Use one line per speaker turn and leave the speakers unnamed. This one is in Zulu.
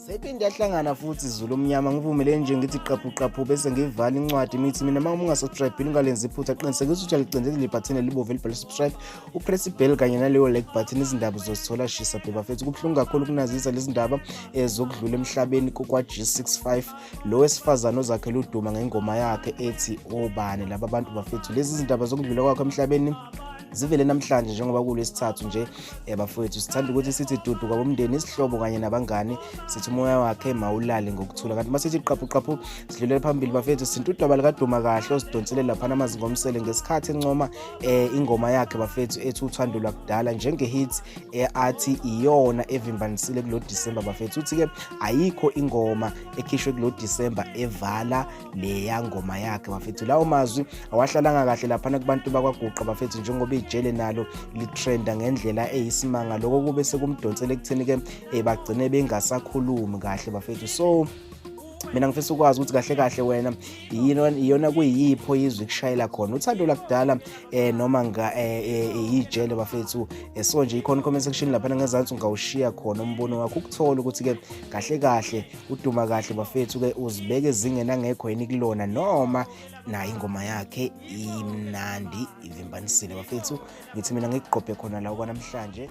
sephinde yahlangana futhi zulu omnyama ngivumele nje ngithi qaphu qaphu bese ngivala incwadi imithi mina uma ungasubscribile ungalenzi iphutha qinisekisa ukuthi uyalicindezela ibhathini elibomvu elibhale subscribe upress ibheli kanye naleyo like button izindaba uzozithola shisa bhebafethu kubuhlungu kakhulu ukunazisa lezi ndaba um zokudlula emhlabeni kokwa-g 65 lo wesifazane ozakhele uduma ngengoma yakhe ethi obani laba bantu bafethu lezi zindaba zokudlula kwakho emhlabeni zivele namhlanje njengoba kulesithathu nje eh, bafowethu sithanda ukuthi sithi dudu kwabomndeni isihlobo kanye nabangani sithi umoya wakhe mawulale ngokuthula kanti masithi qaphu qaphu sidlulela phambili bafethu sintu udaba likaduma kahle osidonsele lapha namazinga omsele ngesikhathi encoma eh, ingoma yakhe bafethu ethi uthando lwakudala njenge-hit eathi iyona evimbanisile kulo December bafethu uthi ke ayikho ingoma ekhishwe kulo December evala leya ngoma yakhe bafethu lawo mazwi awahlalanga kahle laphana kubantu bakwaguqa bafethu njengoba ijele nalo litrenda ngendlela eyisimanga lokho kube sekumdonsela ekutheni ke eh, bagcine bengasakhulumi kahle bafethu so mina ngifisa ukwazi ukuthi kahle kahle wena iyona kuyipho izwe kushayela khona uthando lakudala eh noma nga eh, eh, eh, ijele bafethu so nje ikhona comment section lapha ngezansi ungawushiya khona umbono wakho ukuthola ukuthi ke kahle kahle uduma kahle bafethu ke uzibeke ezingena ngekho yini kulona noma naye ingoma yakhe imnandi ivimbanisile bafethu ngithi mina ngikuqophe khona la kwanamhlanje